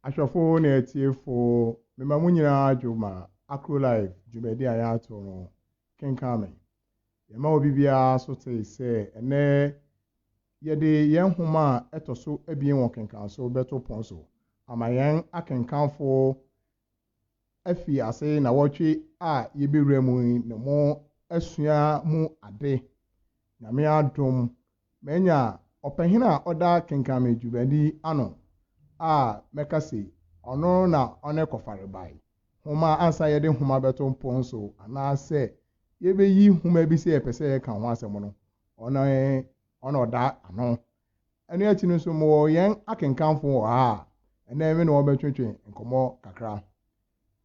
Ahwɛfo ne atiefo, mema mo nyinaa adwo ma Acrolife dwumadi a yɛato no Kenkan Me. Yɛma obi biara so te sɛ ɛnnɛ yɛde yɛn nhoma a ɛtɔ so abien wɔ Kenkan So bɛto pon so ama yɛn akenkanfo afii ase nnawɔtwe a yɛbɛwura mu yi na mo asua mu ade. Nyame adom, manya ɔpahin a ɔda kenkanme dwumadi ano a mɛka se ɔno na ɔne Kɔfarebae Nwoma ansa yɛde nwoma bɛto mpon so anaa sɛ yɛbɛyi nwoma bi sɛ yɛpɛ sɛ yɛka ho asɛm no, ɔno ɔna ɔda ano. Ɛno akyi no nso, mowɔ yɛn akenkanfo wɔ ha a, ɛnnɛ me ne wɔn bɛtwetwe nkɔmmɔ kakra.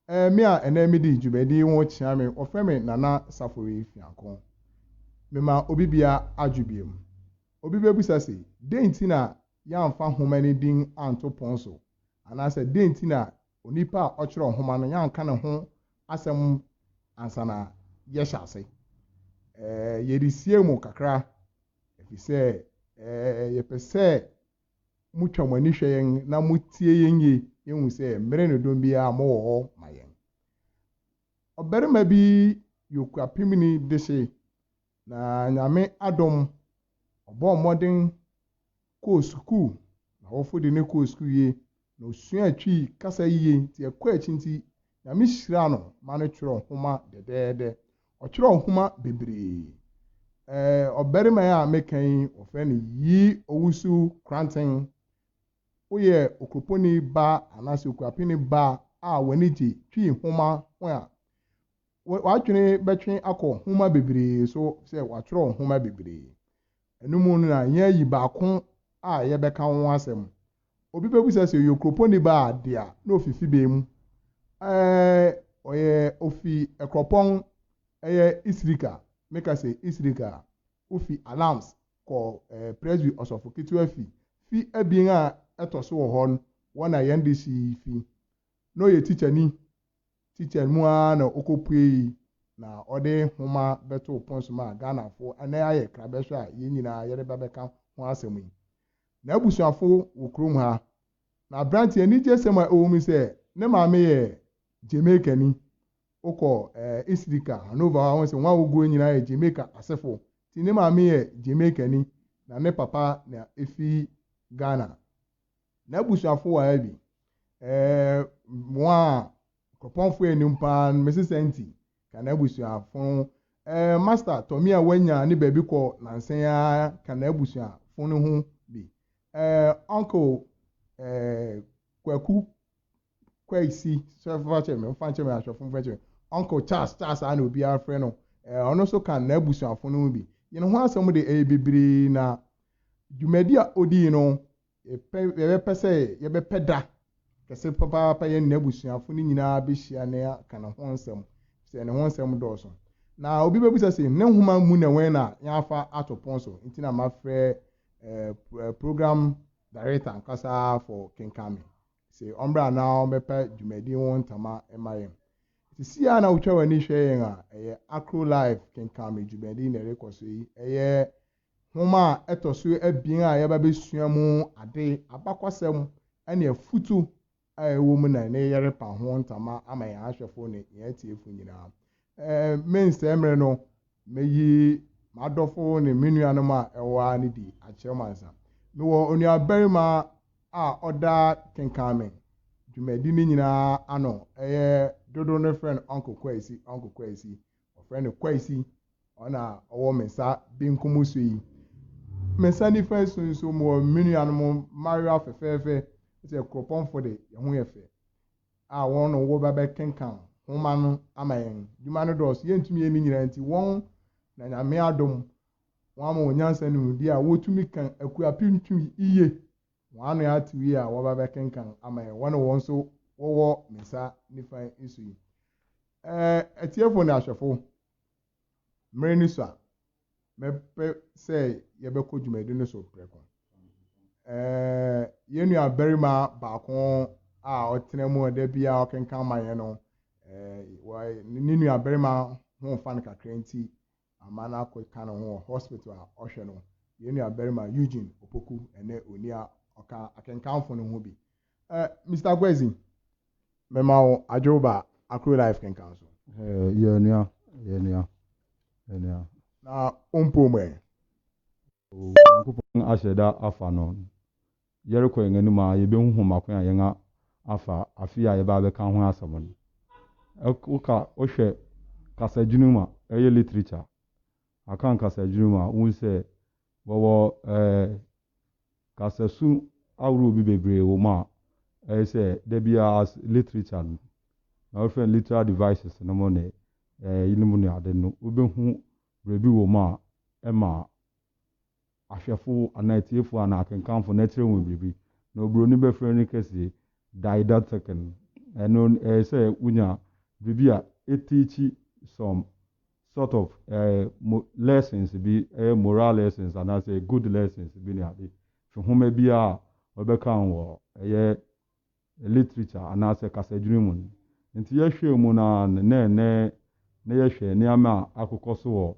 Ɛɛ, me a ɛnnɛ midi dwumadi yi ho kyea me, wɔfrɛ me Nana Safori Fianko. Mema obi bia adwo biom. Obi bɛbisa se, dɛn nti na yɛamfa nhoma no din anto pon so? Anaasɛ dɛn nti na onipa a ɔkyerɛw nhoma no, yɛanka ne ho asɛm ansa na yɛhyɛ ase? Ɛɛ, yɛresie mu kakra. Efisɛ yɛpɛ sɛ mutwa mo ani hwɛ yɛn na mutie yɛn yiye. Yehu sɛ mmere ne dɔn biara mowɔ hɔ ma yɛn. Ɔbarima bi yɛ okuapemni dehye, na Nyame adom, ɔbɔɔ mmɔden kɔɔ sukuu. N'awofo de no kɔɔ sukuu yiye, na osuaa Twi kasa yiye nti ɛkɔɔ akyi nti Nyame hyiraa no ma no twerɛ nhoma dɛdɛɛdɛ. Ɔtwerɛɛ nhoma bebree. Ɛɛ ɔbarima yi a meka yi wɔfrɛ no Yi Owusu Kranten. Woyɛ Okuroponi ba anaasɛ Okuapeni ba a w'ani gye Twi nhoma ho a, w'adwene bɛtwe akɔ nhoma bebree so sɛ watwerɛ nhoma bebree. Ɛno mu no na yɛayi baako a yɛbɛka ho asɛm. Obi bɛbisa sɛ, Ɔyɛ okuropɔnni ba a dea na ɔfi fi bɛn mu? Ɛɛ, ɔyɛ, ɔfi Ɛkorɔpɔn, ɛyɛ Isirika. Meka sɛ, Isirika a, wofi Alams kɔ ɛɛ Presby Ɔsɔfo Ketewa fi. Fi abien a ɛtɔ so wɔ hɔ no, hɔ na yɛn dehye yi fi. Na ɔyɛ tikyani Teacher no mu ara na ɔkɔpuei na ɔde nwoma bɛtoo pon so maa Ghanafo na ayɛ krabɛhwɛ a yɛn nyinaa yɛde ba bɛka ho asɛm yi. N'abusuafo wɔ kurom ha. Na aberanteɛ anigyesɛm a ɛwɔ mu sɛ ne maame yɛ Jamaicani. Wokɔ Isrika, Hanover hɔ a, wohu sɛ wɔn a wɔgu hɔ nyinaa yɛ Jamaica asefo. Nti ne maame yɛ Jamaicani na ne papa na efi Ghana. N'abusuafo wɔ ha bi? Ɛɛ, wɔn a Kuropɔnfoɔ anim paa no, mese sɛ nti, ka n'abusuafo ho. Ɛɛ, Master Tommy a wanya ne baabi kɔ nansa yi ara, ka n'abusuafo no ho bi. Ɛɛ, Uncle ɛɛ, Kwaku Kwesi, sɛ fa kyɛ me, fa kyɛ me ahwɛfo, fa kyɛ me. Uncle Charles, Charles a na obiara frɛ no, ɛɛ, ɔno nso ka n'abusuafo no ho bi. Yɛn ho asɛm de ɛyɛ bebree na dwumadi a odii no Yɛpɛ, yɛbɛpɛ sɛ yɛbɛpɛ da kɛse papaapa yɛne n'abusuafo no nyinaa behyia na yɛaka ne ho nsɛm, efisɛ ne ho nsɛm dɔɔso. Na obi bebisa se, Ne nhoma mu na wɛn na yɛafa ato pon so? Enti na mafrɛ eh, program director ankasa fɔ kenkan me se ɔmmra na ɔmmɛpa dwumadi ho ntama mma yɛn. Sisi a na wotwa w'ani hwɛ yɛn a ɛyɛ Akro Live kenkan me dwumadi na ɛrekɔ so yi, ɛyɛ Nhoma a ɛtɔ so abien a yɛaba abɛsua mu ade, abakɔsɛm ne afotu a ɛwɔ mu na ɛne yɛrepa ho ntama ama yɛn ahwɛfo ne yɛn atiefo nyinaa. Mensɛe mmere no, meyi m'adɔfo ne me nuanom a ɛwɔ ha no di akyerɛ mo ansa. Mewɔ onuabarima a ɔda kenkan me dwumadi no nyinaa ano, ɛyɛ dodow no frɛ no Uncle Kwasi, Uncle Kwasi. Wɔfrɛ no Kwasi, ɔna ɔwɔ me nsa benkum so yi. Me nsa nifa yi so nso mewɔ me nuanom mmayewa fɛfɛɛfɛ, sɛ kuropɔnfo de, yɛn ho yɛ fɛ, a wɔn na wɔba bɛkenkan nhoma no ama yɛn. Adwuma no dɔɔso, yɛntumi yɛ ne nyinaa nti, wɔn na Nyame adom wɔn ama wɔn nyansa ne nimdeɛ a wotumi kan akuapem tu yiye. Wɔn ano atew yi a wɔaba abɛkenkan ama yɛn, wɔne wɔn nso wɔwɔ me nsa nifa yi so yi. Ɛɛ, atiefo ne ahwɛfo, mmere no sua. Mɛpɛ sɛ yɛbɛkɔ dwumadi no so prɛko. Ɛɛ, yɛn nuabarima baako a ɔtena mu a da biara ɔkenkan ma yɛn no, ɛɛ, ne nuabarima ho fa no kakra nti, ama no akɔka ne ho wɔ hospital a ɔhwɛ no, yɛn nuabarima Eugene Opoku ne onii a ɔka akenkanfo no ho bi. Eh, Mister Kwesi, mema wo adwewba a, Akure Life kenkan so. Eh, yɛn nua, yɛn nua, yɛn nua. Na wompoo mu ɛ? Onyankopɔn ahyɛ da afa no. Yɛrokɔ hɛn anomu a yebohu hom akwan a hɛn afa afe a yɛbaa abɛka ho asɛm no. Woka wohwɛ kasa edwuma mu a, ɔyɛ literature, Akan kasa edwuma mu a, wohu sɛ wɔwɔ kasasu ahorow bi beberee wɔ mu a ɔyɛ sɛ da biara literature no na wɔfrɛ no literal devices no mu ne yinom ne ade no wobehu Bere bi wom a ɛma ahwɛfo anaa atiefo anaa akenkanfo no kyerɛ wɔn biribi, na oburoni bɛfrɛ no kɛse Didactician. Ɛno ɛyɛ sɛ wonya biribi a eteachi some sort of lessons bi, ɛyɛ moral lessons anaasɛ good lessons bi ne ade, fi nhoma biara a wɔbɛkan wɔ ɛyɛ literature anaasɛ kasadwini mu no. Enti yɛhwɛɛ mu no ara no, na ɛnnɛ na yɛhwɛ nneɛma a akokɔ so wɔ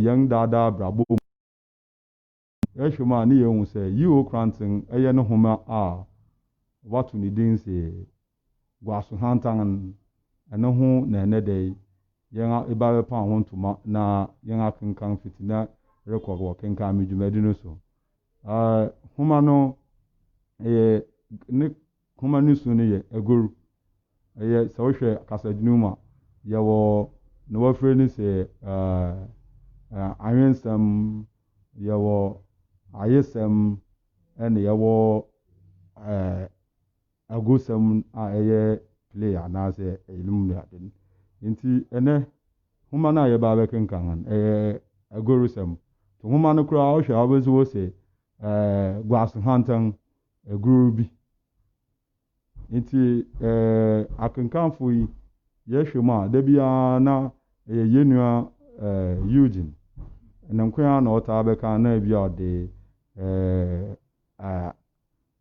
yɛn daa daa abrabɔ mu. Yɛhwɛ mu a na yɛhu sɛ Yio Kranten yɛ ne nhoma a wɔato ne din sɛ Guaso Hantan. Ɛno ho na ɛnnɛ da yi yɛn ba bɛpam ho ntoma na yɛn akenkan fiti nnɛ rekɔ wɔ kenkan me dwumadi no so. Nhoma no yɛ ne nhoma no su no yɛ agoru. Ɛyɛ sɛ wohwɛ kasadwini mu a, yɛwɔ na wɔafrɛ no sɛ awensɛm, yɛwɔ ayesɛm, ɛna yɛwɔ Agosɛm a ɛyɛ play anaasɛ eyinom ne ade no. Enti ɛnnɛ nhoma no a yɛba abɛkenkan no, ɛyɛ agorusɛm. To nhoma no koraa wohwɛ a wobɛhu wɔ sɛ ɛɛ guase hantan agoru bi. Enti ɛɛ akenkanfo yi yɛhwɛ mu a da biara na ɛyɛ yɛn nua ɛɛ Eugene ne nko ara na ɔtaa bɛkan na ebi a ɔde ɛɛ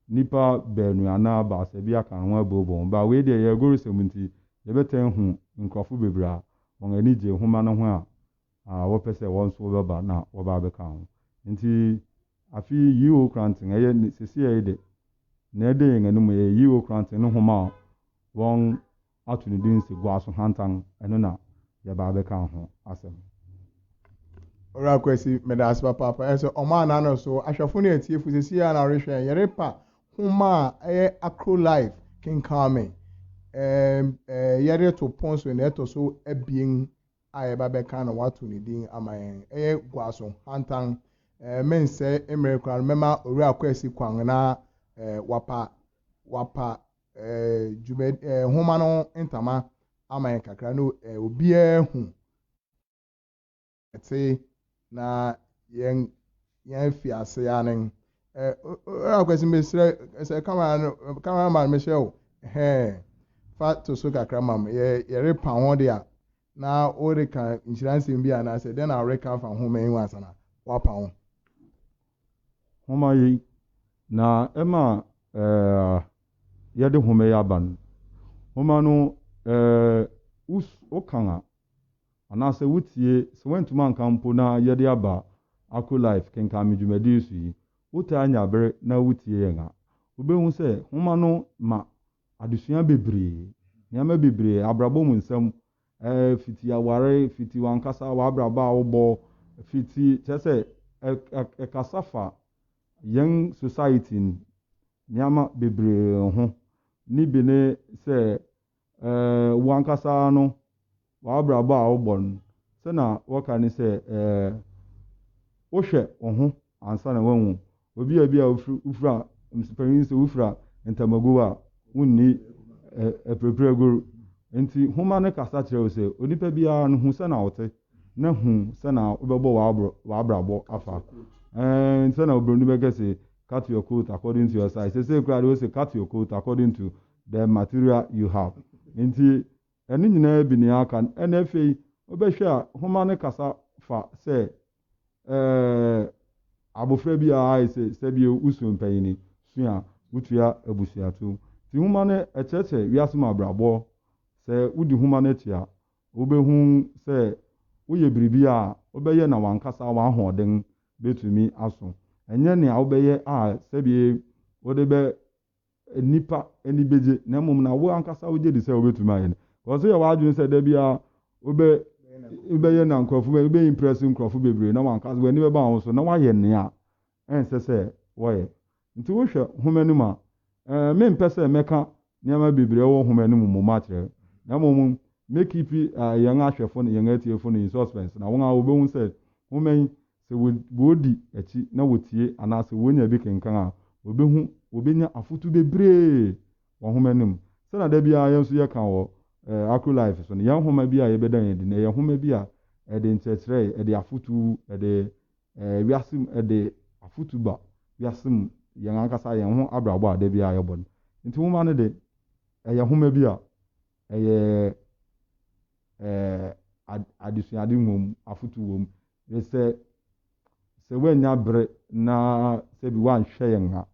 nnipa baanu anaa baasa bi aka ho abobɔ wɔn bra. Wei deɛ, yɛn agoresɛm nti, yɛbɛtaa ahu nkurɔfo bebree a wɔn ani gye nhoma no ho a wɔpɛ sɛ wɔn nso wɔbɛba na wɔba abɛka ho. Enti, afe yi, Ye O Koranten, ɛyɛ ne, seesei yi de, nea ɛda yɛn anim, ɛyɛ Ye O Koranten ne nhoma a wɔn ato ne din se Guaso Hantan, ɛno na yɛba abɛka ho asɛm. Owura Kwasi, meda ase papaapa. Ɛyɛ sɛ ɔmaa n'ano so. Ahwɛfo ne atiefo, seesei ara na wɔrehwɛ yɛn. Yɛrepa nhoma a ɛyɛ Akro Life Kenkan Me. Ɛɛm, ɛɛ, yɛde reto pon so nea ɛtɔ so abien a yɛba bɛka na wɔato ne din ama yɛn. Ɛyɛ Guaso Hantan. Ɛɛ, mensɛe mmere koraa no, mɛma Owura Kwasi kwan na, ɛɛ, wapa, wapa dwuma nhoma no ntama ama yɛn kakra na obiara hu ɛte na yɛn yɛn fi ase anen ɛɛ akwasi mesrɛ sɛ kamara no kamara man mehyɛ o hɛɛ fa to so kakra mam yɛ yɛre pa ho de a na wɔreka nhyira nsɛm bi anaasɛ dɛn na wɔreka afa ho mɛn ho asana wapa ho. Nhoma yi, na ɛma yɛde nhoma yi aba no, nhoma no wokan a, anaasɛ wotie, sɛ woantumi ankan mpo na yɛde aba Akro Life Kenkan Me dwumadi so yi, wotaa nya bere na wotie yɛn a, wobɛhu sɛ nhoma no ma adesua bebree, nneɛma bebree, abrabɔ mu nsɛm, eh, fiti aware, fiti wankasa w'abrabɔ a wobɔ, fiti kyerɛ sɛ ɛkasa fa yɛn society no nneɛma bebree ho. Ne bi ne sɛ eh, wankasa no w'abrabɔ a wobɔ no, sɛ na wɔka ne sɛ eh, wohwɛ wo ho ansa na wɔahu obi a ebia wofura mpanyin sɛ wofura ntamagow a wonni apirakuragoru. Enti nhoma no kasa kyerɛ wo sɛ, Onipa biara no, hu sɛnea wote, na hu sɛnea wobɛbɔ w'abrabɔ afa. Ɛɛ, sɛnea oburoni bɛka se, Cut your coat according to your size. Sɛsɛ koraa de, wose, Cut your coat according to the material you have. Enti ɛno nyinaa bi nea aka no. Ɛna afei wobɛhwɛ a, nhoma no kasa fa sɛ Ɛɛ, abofra bi a ayɛ sɛ sɛbea a osuo mpanyin sua a wotua abusua tow. Nti nhoma no kyerɛkyerɛ wiase mu abrabɔ. Sɛ wodi nhoma no akyi a, wubehu sɛ woyɛ biribi a, wobɛyɛ na w'ankasa w'ahoɔden betumi aso. Ɛnyɛ nea wobɛyɛ a sɛbea wode bɛ nnipa ani bɛgye na mmom na wo ankasa wogye di sɛ wobɛtumi ayɛ no kɔ so yɛ w'adwene sɛ da biara wobɛ wobɛyɛ na nkurɔfo bɛ wobɛ impress nkurɔfo bebree na wankasa w'ani bɛba wo ho so na woayɛ nea ɛnsɛ sɛ wɔyɛ nti wohwɛ nhoma no mu a ɛɛ mempɛ sɛ mɛka nneɛma bebree wɔ nhoma no mu mmom akyerɛ na mmom mɛkipi yɛn ahwɛfo no yɛn atiefo no in suspense na wɔn a wɔbɛhu sɛ nhoma yi Sɛ wɔdi akyi na wɔtie anaasɛ wɔnya bi kenkan a, wɔbɛhu, wɔbɛnya afotu bebree wɔ nwoma no mu. Sɛnea da biara yɛn nso yɛka wɔ Acrolife so no, yɛn nwoma bi a yɛbɛdan adi no, ɛyɛ nwoma bi a ɛde nkyerɛkyerɛ, ɛde afotu, ɛde wiase mu, ɛde afotu ba wiase mu, yɛn ankasa yɛn ho abrabɔ a da biara yɛbɔ no. Nti nwoma no de, ɛyɛ nwoma bi a ɛyɛ ɛɛ adesuade wom, afotu wom, ne sɛ, sɛ woannya bere na sɛbi woanhwɛ yɛn a,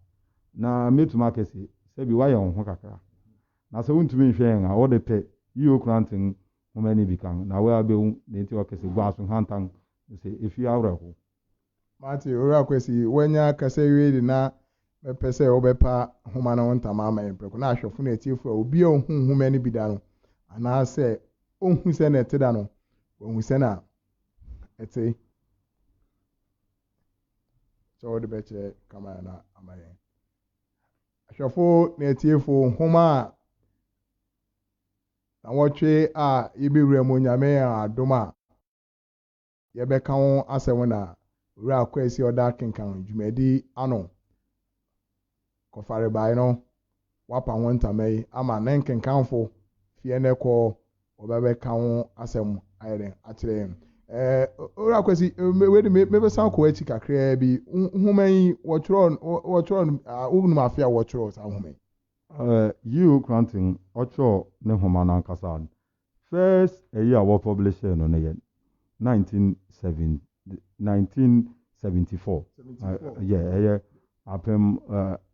na mɛtumi aka se, sɛbi woayɛ wo ho kakra. Na sɛ wontumi nhwɛ yɛn a, wode pɛ, yi wo krante nhoma no bi kan, na woabɛhu nea enti a wɔka se, Guaso hantan no sɛ efi awerɛhow. Mate, Owura Kwesi, woanya kasa awie de na mɛpɛ sɛ wobɛpa nhoma no ho ntama ama yɛn prɛko, na ahwɛfo ne atiefo a obi a onhuu nhoma no bi da no, anaasɛ onhu sɛnea ɛte da no, wahu sɛnea ɛte sɛ wode bɛkyerɛ kamera no ama yɛn ahwɛfo ne atiefo nhoma a na wɔtwe a yɛbɛwura mu nyame adom a yɛbɛka ho asɛm na wura kwasi ɔda kenkan dwumadi ano kɔfarebae no, wɔapa ho ntama yi ama ne nkenkanfo fi ɛnnɛ kɔ wɔbɛbɛka ho asɛm ayɛ dɛn akyerɛ yɛn. Ɛɛ, Owura Kwasi, wei de me, mebɛsan kɔ akyi kakraa bi. Nhoma yi, wɔtwerɛ, wɔtwerɛ no, wonim afe a wɔtwerɛ saa nhoma yi? Ɛɛ, G.O. Cranton, ɔtwerɛ ne nhoma no ankasa First ɛyi a wɔ publisher no no yɛ nineteen seven nineteen seventy four yɛ ɛyɛ apem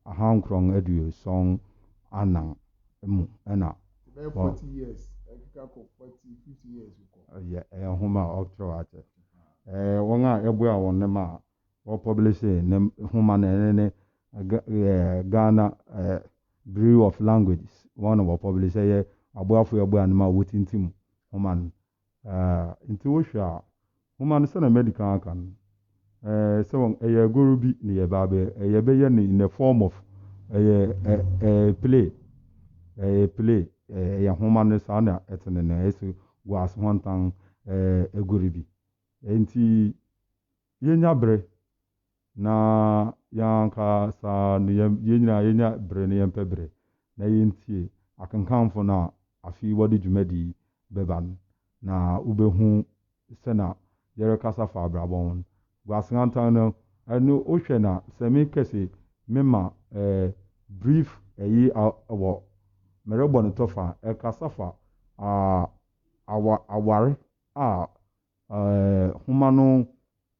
ahankorɔn aduoson anan mu ɛna ɛbɛyɛ forty years ɛkeka kɔ forty fifty years kɔ ɛyɛ ɛyɛ nwoma a ɔtwerɛ akyɛ ɛɛ wɔn a ɛboa wɔn ne ma ɔpublishe ne nhoma no ɛno ne Ghana Bureau of Languages wɔn na wɔpublishe ɛyɛ aboafoɔ a ɛbɔ anom a wɔtintim nhoma no nti wohwɛ a nhoma no sɛdeɛ madi kan aka no sɛ wɔn ɛyɛ agoro bi na yɛba abɛ yɛbɛyɛ no in the form of ɛyɛ play ɛyɛ play ɛyɛ nhoma no saa na ɛtene no ɛsɛ guase ho ntan agoro bi nti Yɛnya bere, na yɛn ankasa no yɛn nyinaa yɛnya bere na yɛmpɛ bere na yɛntie akenkanfo no a afe wɔde dwumadi yi bɛba no, na wobɛhu sɛ na yɛrekasa fa abrabɔ ho. Guaseantan no, ɛno wohwɛ na sɛ me kɛse mema eh, brief ɛyi a wɔ merebɔ no tɔfa ɛkasa fa ah, awa, aware a Nhoma no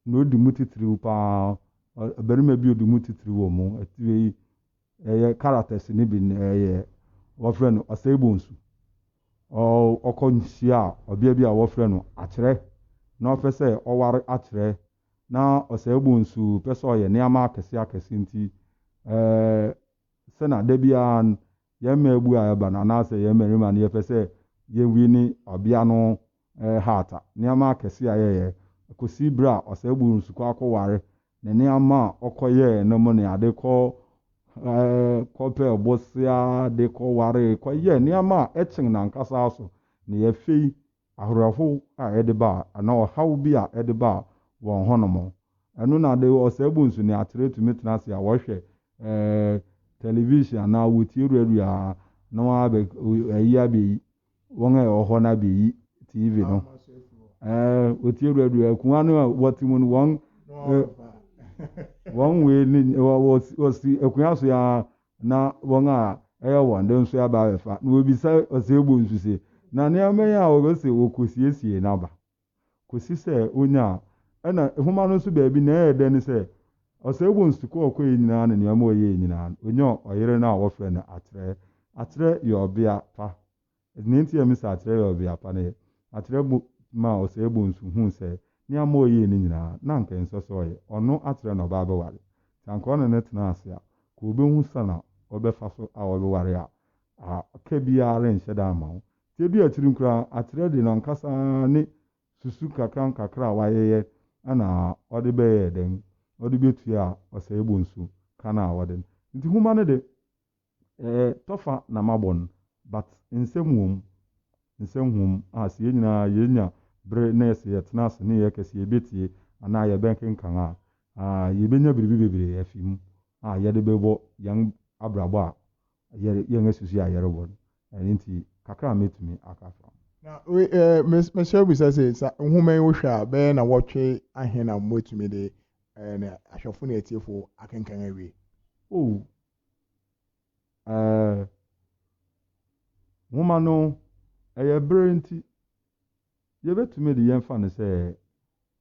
na odi mu titiriw paa. Ɔbarima bi a odi mu titiriw wɔ mu. Tire yi, ɛyɛ characters no bi no ɛyɛ wɔfrɛ no Osei-Bonsu. Ɔkɔ nhyia ɔbea bi a wɔfrɛ no Akyerɛ na ɔpɛ sɛ ɔware Akyerɛ. Na Osei-Bonsu pɛ sɛ ɔyɛ nneɛma akɛse akɛse nti sɛnea da biara yɛn mmaabu a yɛba no anaasɛ yɛn mmarima no yɛpɛ sɛ yɛwini ɔbea no hata nneɛma akɛse a yɛyɛ, kosi bere a Ɔsɛebu Nsu kɔ akɔware ne nneɛma a ɔkɔyɛe no mu ne ade kɔ kɔpɛɛ bosea de kɔwaree kɔyɛɛ nneɛma a ɛkyen n'ankasa so na ɛyɛ fɛ yi, awerɛhow a ɛde baa anaa ɔhaw bi a ɛde baa wɔn hɔnom. Ɛno na de Ɔsɛebu Nsu ne atere tumi tena ase a wɔhwɛ television anaa wotie radio a na wɔabɛ ayi abɛyi. wɔn a ɛwɔ hɔ no abɛyi TV no. Wɔtie dura dura akuma no a wɔte mu no wɔn wɔn wei ne wɔsi akuma so ya na wɔn a ɛyɛ wɔn de nso aba abɛfa. Na wɔbisa ɔsɛ ebu nso se na nneɛma yi a wɔbɛsɛ wɔkɔsiesie no aba. kɔsi sɛ ɔnyaa. Ɛna nwoma no nso baabi nea ɛyɛ dɛ ne sɛ, Oseibo nsukuu a ɔkɔeɛ nyinaa ne nneɛma a ɔyɛeɛ nyinaa no, ɔnyaa ɔyere no a wɔfrɛ no Akyerɛ. Akyerɛ yɛ ɔbea pa. Nea enti a mese Akyerɛ yɛ ɔbea pa ne, Akyerɛ bo maa Oseibo nso huu sɛ nneɛma a ɔyɛeɛ no nyinaa, na anka ɛnsɛ sɛ ɔyɛ. Ɔno Akyerɛ na ɔba abɛware. Nti anka ɔne no tena ase a, anka ɔbɛhu sɛn na ɔbɛfa so a ɔbɛware a, aka biara renhyɛ da mma wo. Mfe bi akyiri no koraa, akyerɛ de n'ankasa ne susu nkakrankakra a wayeyɛ na ɔde bɛyɛɛ dɛn? Ɔde betuaa ɔsɛe bonsu ka no a wɔde no. Enti nhoma no de, ɛtɔfa na mabɔ no, but nsɛm wom, nsɛm wom a sɛ yɛn nyinaa yenya bere na sɛ yɛtena ase na yɛka sɛ yebetie anaa yɛbɛkenkan a, yebenya biribi bebree afi mu a yɛde bɛbɔ yɛn abrabɔ a yɛre yɛn asusu yɛ a yɛrebɔ no ɛno nti kakra a mɛtumi aka afa ho. Na we eh, mes, mesrɛ bisa sɛ sa nwoma yi wohwɛ a bɛyɛ na wɔtwe ahe na moatumi de eh, ne ahwɛfo ne atiefo akenkan awie? Oh, eh, nwoma no ɛyɛ bere nti yɛbɛtumi de yɛmfa no sɛ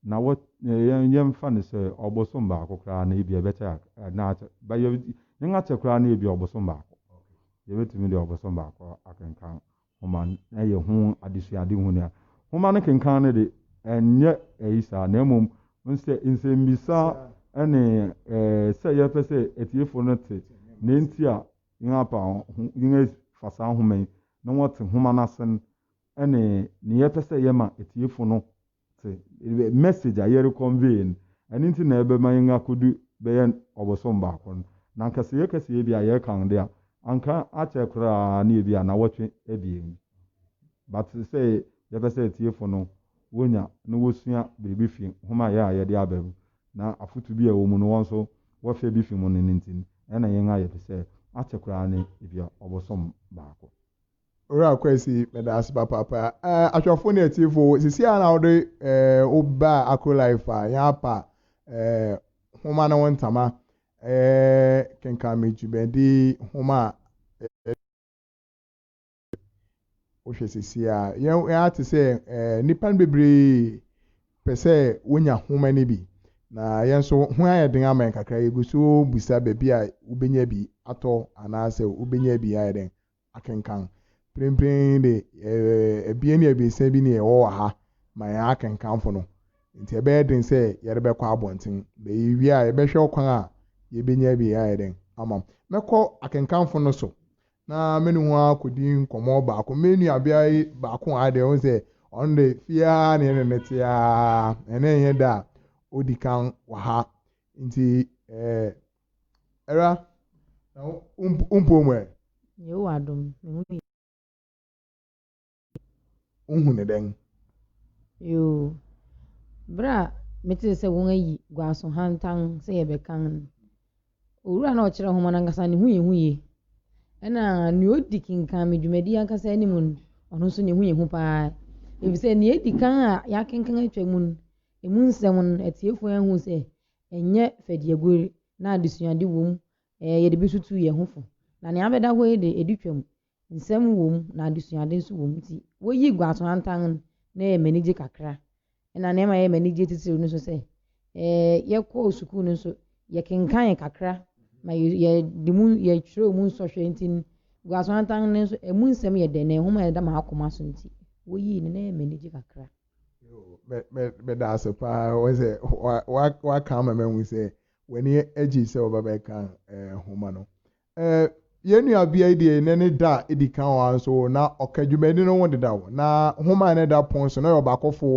Na wɔ, yɛn, yɛmfa no sɛ ɔbosom baako koraa no, ebia ɛbɛkyɛ ak, na akyɛ, ba yɛ, yɛn akyɛ koraa no ebia ɔbosom baako. Yɛbɛtumi de ɔbosom baako akenkan Nwoma no, na yɛahu adesuade hunu a. Nwoma no kenkan no de, ɛnyɛ ayi saa, na mmom, wohu sɛ, nsɛmmisa ne, eh, sɛ yɛpɛ sɛ atiefo no te nea enti a yɛn apa ho, yɛn fa saa Nwoma yi, na wɔte Nwoma no ase no, ne nea yɛpɛ sɛ yɛma atiefo no te. The message a yɛre convey no, ɛno nti na ɛbɛma yɛn akodu bɛyɛ ɔbosom baako no. Na anka sɛ yɛka sɛ ebi a yɛrekan de a, anka akyɛ koraa ne ebi a anawɔtwe abien bi. But sɛ yɛpɛ sɛ atiefo no wɔnya na wɔsua biribi fi nhoma yɛ a yɛde aba mu, na afotu bi a ɛwɔ mu no wɔn nso wɔhwɛ bi fi mu no no nti no, ɛna yɛn ayɛ de sɛ akyɛ koraa ne ebi a ɔbosom baako. Owura Kwesi, meda ase papaapa. Eh, ahwɛfo ne atiefo, sisi a na wode eh, wo ba Akro Life a yɛn apa eh, homa ne wo ntama eh, kenkan me dwumadi homa a eh, wohwɛ sisi a yɛn yɛn ate sɛ eh, nnipa no bebree pɛ sɛ wonya homa no bi na yɛn nso ho ayɛ den ama yɛn kakra yɛgu so bisa baabi a wobɛnya bi atɔ anaasɛ wobɛnya bi ayɛ den akenkan. Mprempren de, yɛyɛ abien ne abiɛsa bi na yɛwɔ wɔ ha ma yɛn akenkanfo no, enti ɛbɛyɛ den sɛ yɛde bɛkɔ abɔnten. Na yewie a, yɛbɛhwɛ ɔkwan a yebenya bi ayɛ dɛn ama mo. Mɛkɔ akenkanfo no so na me ne wɔn akodi nkɔmmɔ baako. Me nuabea yi baako wɔ ha deɛ, wohu sɛ ɔno de, fie ara na yɛne no te ara, ɛnnɛ nyɛ da a odi kan wɔ ha. Enti, eh, Ɛra, na wo wo mpoo mu ɛ? Yehowa adom, me ho ye. Wohu no dɛn? Yoo, bere a metee sɛ wɔayi Guaso Hantan sɛ yɛbɛkan no, owura a na ɔkyerɛ nhoma no ankasa ne ho yɛ hu ye. Ɛnna nea odi kenkan me dwumadi ankasa anim no, ɔno nso ne ho yɛ hu paa, efisɛ nea edi kan a yɛakenkan atwam no, emu nsɛm no, atiefo anhu sɛ Ɛnyɛ fɛdiagoe na adesuade wom ɛɛ yɛde betutu yɛn ho fo. Na nea abɛda hɔ yi de, edi twam. Nsɛm wom na adesuade nso wom. Enti woyi Guasoantan no na ɛyɛ m'anigye kakra. Ɛna nea ɛma ɛyɛ m'anigye titiriw no nso sɛ, ɛɛ yɛkɔɔ sukuu no nso yɛkenkanee kakra na yɛ yɛde mu yɛkyerɛw mu nsɔhwɛ nti no, Guasoantan no nso emu nsɛm yɛ dɛ na nhoma a ɛda m'akoma so nti woyii no na ɛyɛ m'anigye kakra. meda ase paa wɔ sɛ waka ama mahu sɛ w'ani agye sɛ wɔba bɛka nhoma no yɛn nua bia deɛ ne ne da edi kan wɔ nso na ɔka dwumadi no ho deda hɔ na nhoma no da pon so na yɛ ɔbaakɔfo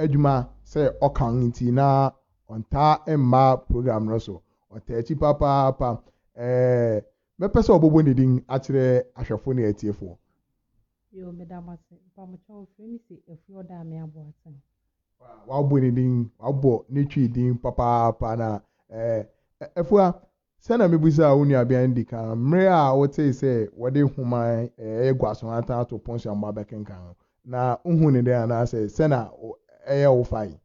adwuma sɛ ɔka nti na ɔntaa mma program no so ɔtaa akyi papaapa ɛɛ mɛpɛ sɛ ɔbɔbɔ ne din akyerɛ ahwɛfo ne atiefoɔ Yoo meda mo ase. Mpamokyɛw frɛ me se Afue Ɔdaame Aboateng. Wabɔ ne din, wabɔ ne Twi din papaapa na eh, Afua, sɛ na mebisaa wo nuabea no di kan mmere a wotee sɛ wɔde nhoma a ɛyɛ guaso atan ato pon so ama wabɛkenkan no, na wohuu no dɛn anaasɛ sɛ na ɛyɛ wo fã yi?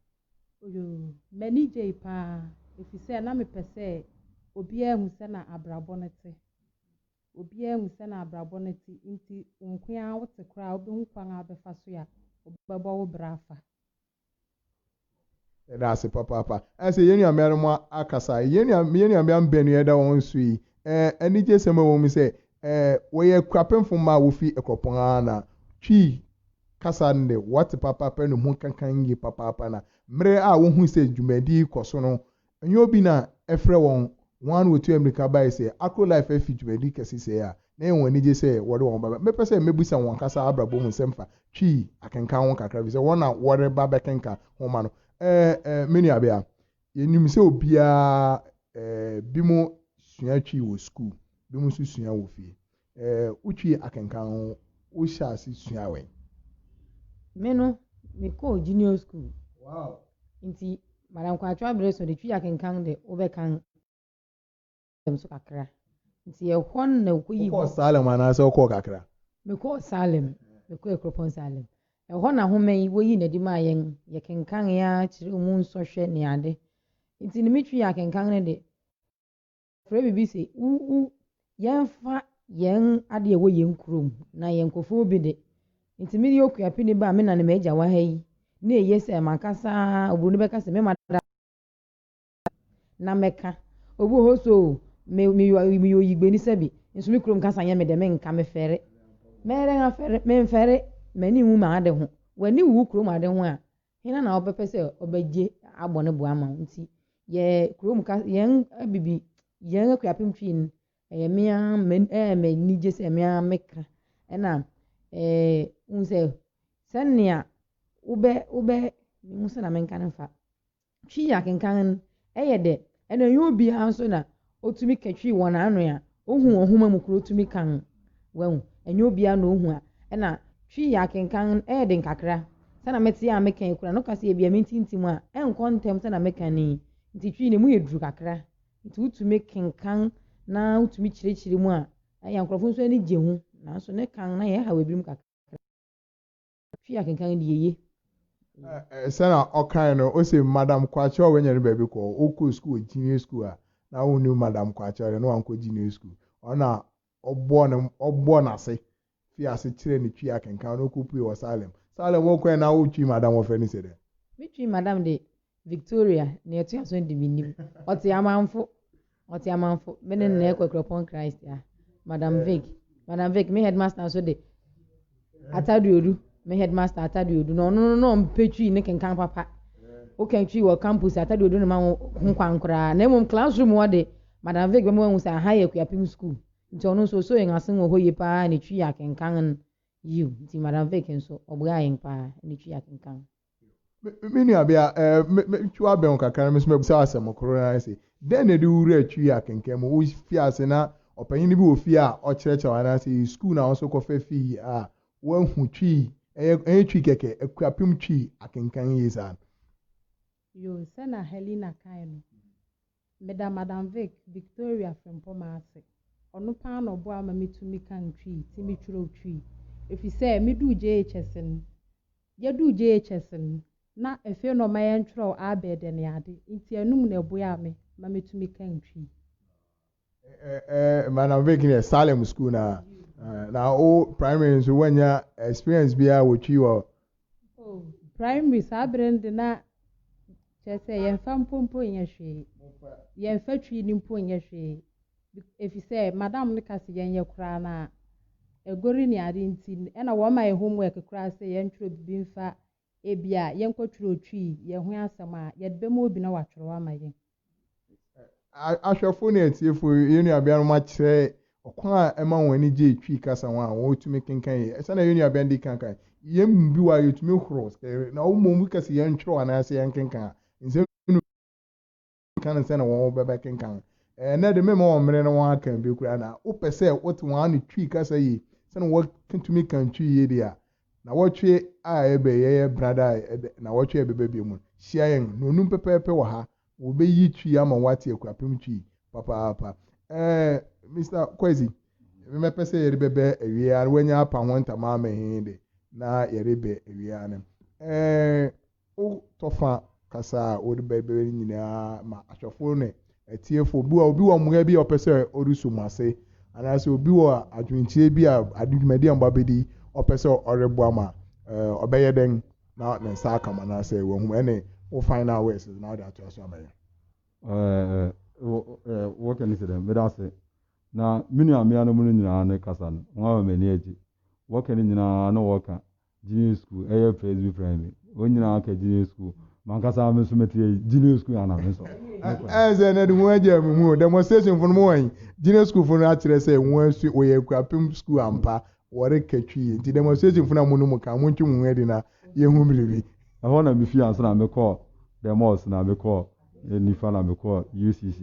Oyoo, m'ani gyei paa efisɛ na mepɛ sɛ obiara hu sɛ na abrabɔ no te. obiara mu sɛnea abrabɔ no te nti wo nko ara wote koraa a wobɛhu kwan a wobɛfa so a wobɛbɔ wo bra afa. Yɛda ase papaapa. Ayɛ sɛ yɛn nuabeanom akasa. Yɛn nua, yɛn nuabeam bɛn no yɛda wɔn so yi? Ɛɛ, anigyesɛm a ɛwɔ mu sɛ, ɛɛ, wɔyɛ Akuapemfo mma a wofi Akuapɔn ara na Twi kasa no de, wɔte papaapa na emu kankann yiye papaapa. Na bere a wohui sɛ dwumadi yi kɔ so no, Ɛnyɛ obi na ɛfrɛ wɔn, wɔn ara na wɔtu ammirika bae sɛ Akro Life afi dwumadi kɛse sɛɛ a na ɛyɛ wɔn anigye sɛ wɔde wɔn ba. Mɛpɛ sɛ mebisa wɔn ankasa abrabɔ mu nsɛm fa Twi akenkan ho kakra efisɛ wɔn na wɔreba abɛkenkan nhoma no. Ɛɛ, ɛɛ, me nuabea, yenim sɛ obiara, ɛɛ, binom sua Twi wɔ sukuu, binom nso sua wɔ fie. Ɛɛ wotwii akenkan ho wohyɛɛ ase suaa wɛn? Me no me kɔɔ junior school. Wow. Nti madam kwaakyewa bere so de twi akenkan de wobɛkan salem so kakra. Nti ɛhɔ no na okoyii. Wokɔɔ salem anaasɛ wokɔɔ kakra? Me kɔɔ salem. Me kɔɔ akuropɔn salem. Ɛhɔ na nhoma yi woyii no adi maa yɛn. Yɛ kenkanee ara kyerɛw mu nsɔhwɛ ne ade. Nti no me twi akenkan no de Frɛ biribi se u u. Yɛmfa yɛn adeɛ a ɛwɔ yɛn kurom na yɛn nkurɔfoɔ bi de. Nti me deɛ Okuapini ba a me na ne m'agya wɔ ha yi, na eye sɛ m'ankasa oburoni bɛka se me ma da na mɛka. Obi wɔ hɔ se o, me me yɔ meyɛ oyigbani sɛbi, nso me kurom kasa nyɛ me dɛ, menka, mefɛre. Mɛyɛ dɛn afɛre? Memfɛre, m'ani nwu m'ade ho. W'ani wu wo kurom ade ho a, Hena na ɔbɛpɛ sɛ ɔbɛgye abɔ ne bo ama wo? Nti yɛ kurom ka yɛn abibi yɛn akuapem twi no ɛyɛ me ara ɛyɛ me anigye sɛ me ara meka ɛna ɛɛ wohu sɛ sɛnea wobɛ wobɛ mehu sɛ na menka no mfa twi yɛ akenkan no ɛyɛ dɛ Ɛna ɛnyɛ obiara nso na ɔtumi katwi wɔn ano a ɔhu wɔn nhoma mu koro tumi kan. Wahu? Ɛnyɛ obiara na ɔhu a ɛna twi yɛ akenkan no yɛ den kakra. Sɛna mete a meka yi koraa no ka sɛ ebia mentintim a ɛnkɔ ntɛm sɛna meka no yi nti twi no ɛmu yɛ duru kakra nti wotumi kenkan na wotumi kyerɛkyerɛ mu a ɛyɛ a nkurɔfo nso ani gye ho nanso ne kan na yɛhaw ebinom kakra. Twi akenkan no deɛ eye. Eh sɛna ɔkae no ose madam kwakye a wanya ne baabi kɔ wokɔ school wɔ junior school a na wonnim madam kwakye ɔde no wankɔ junior school ɔno na ɔbɔɔ no ɔbɔɔ nase fii ase kyerɛɛ no twi akenkan na ɔkɔpuee wɔ salem salem wokɔɛ na wotwii madam wɔfrɛ no se dɛn? Me twii madam de Victoria, nea ɛtoa so no de minnim. Ɔte Amanfo. Ɔte Amanfo. Me ne no na yɛkɔ Akuropɔn Christ, yeah. Madam Vic. Madam Vic, me headmaster nso de Atadeodu, me headmaster Atadeodu, na ɔno no na ɔmpɛ Twi ne kenkan papa. Woka Twi wɔ campus Atadeodu no ma wo ho kwan koraa. Na mmom classroom hɔ de, Madam Vic bɛma wahu sɛ aha yɛ Akuapem school. Nti ɔno nso osoo yɛn asen wɔ hɔ yie paa ne Twi akenkan no. Yiw, nti Madam Vic nso, ɔboaa yɛn paa ne Twi akenkan. Me nuabea, metwiw abɛn wo kakra na me nso mabisa wo asɛm koro no ara se, Dɛn na ɛde wo werɛ atwiw yɛ akenkan mu? Wofii ase na ɔpanyin bi wɔ fie a ɔkyerɛkyerɛ wo anaasɛ ɛyɛ sukuu na wo nso wokɔfa fii a woahu twi, ɛnyɛ twi kɛkɛ, akuapem twi akenkan yiye saa no? Yoo, sɛ na Helena kae no, Meda Madam Vic, Victoria Frimpong ase. Ɔno paa na ɔboa ma mitumi kan Twi ti mekyerɛw Twi. Efisɛ miduu JHS no, yeduu JHS no, na afei na ɔma yɛnkyerɛw Abɛɛdɛ ne ade, enti ɛnom na ɛboaa me ma mitumi kan Twi. Eh, Madam Vic deɛ Salem School no a, na wo Primary nso woannya experience biara wɔ Twi wɔ Oh, primary saa bere no de na kyerɛ sɛ yɛmfa mpompo nyɛ hwee. Yɛmfa twi no mpo nyɛ hwee. Efisɛ madam no ka sɛ yɛnyɛ koraa na agori ne ade nti ɛna wɔma yɛ homework koraa sɛ yɛntwerɛ biribi mfa ebia yɛnkɔtwerɛ twi, yɛn ho asɛm a, yɛde bɛma obi na watwerɛ ama yɛn. Ahwɛfo ne atiefo, yɛn nuabeanom akyerɛ ɔkwan a ɛma wɔn ani gye Twi kasa ho a wotumi kenkan yiye. Sɛnea yɛn nuabea no de kan kae no, yɛn mu bi wɔ ha a, yetumi horo sɛ na mmom woka se yɛntwerɛw anaasɛ yɛnkenkan a, nsɛm no mu nka no sɛnea wɔbɛkenkan. Ɛnnɛ de, meremma wɔn mmere na wɔakan bi koraa. Na wopɛ sɛ wote wɔn ano Twi kasa yiye sɛnea wɔtumi kan Twi yiye de a, Nawɔtwe a ɛbɛ yɛyɛ brada a ɛbɛ nawɔtwe a ɛbɛba bio mu no, hyia yɛn nnɔnum pɛpɛɛpɛ wɔ ha. Wɔbɛyi twi ama wo ate akurapem twi papaapa. Ɛɛ Mister Kwesi, me mɛpɛ sɛ yɛde bɛbɛ awie ara no, woanya apa ho ntama ama he de, na yɛde bɛ awie ara no. Ɛɛ. Wo tɔfa kasa a wode bɛbrɛ no nyinaa ma ahwɛfo ne atiefo. Obi wɔ obi wɔ mmoa bi a ɔpɛ sɛ ɔde so mo ase, anaasɛ obi wɔ adwenkyerɛ bi a ade dwumadi a mo ba bɛdi ɔpɛ sɛ ɔreboa mo a, ɔbɛyɛ dɛn na ne nsa aka mo anaasɛ wahu mo? Ɛne wo final words na wode atoa so ama yɛn. Wɔka ne sɛ dɛn? Meda ase. Na me nuameanom no nyinaa ne kasa no, wɔn a wɔn ani agye. Wɔka ne nyinaa na wɔka Gyinae sukuu ɛyɛ presby primary wɔn nyinaa aka gyinae sukuu mankasa me nso mete yɛ gyinae sukuu ana me nso ɛyɛ sɛ ɛnɛ de wɔn agya mu mu demonstration fo no mo wɔn gyinae sukuu fo no akyerɛ sɛ wɔn asu wɔyɛ akurapem sukuu ampa wɔreka twi yɛ nti demonstration fo no a mo no mo ka mo ntwe mo ho adi na yɛhu biribi. Ɛhɔ na mefii ansa na mekɔɔ demos na mekɔɔ nifa na mekɔɔ UCC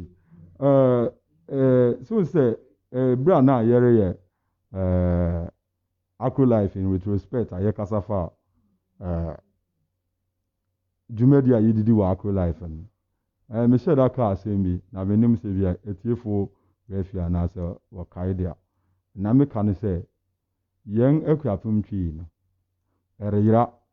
ɛɛ ɛɛ so sɛ ɛɛ bere a na yɛreyɛ ɛɛ Acrolife in Retrospect a yɛkasa faa eh, dwumadi a yedidi wɔ Acrolife no, eh, mehyɛɛ da kaa asɛm bi, na mennim sɛ bi a atiefo werɛ fi anaasɛ wɔkae de a. Nea meka ne sɛ, yɛn akuapem twi yi no, ɛreyera.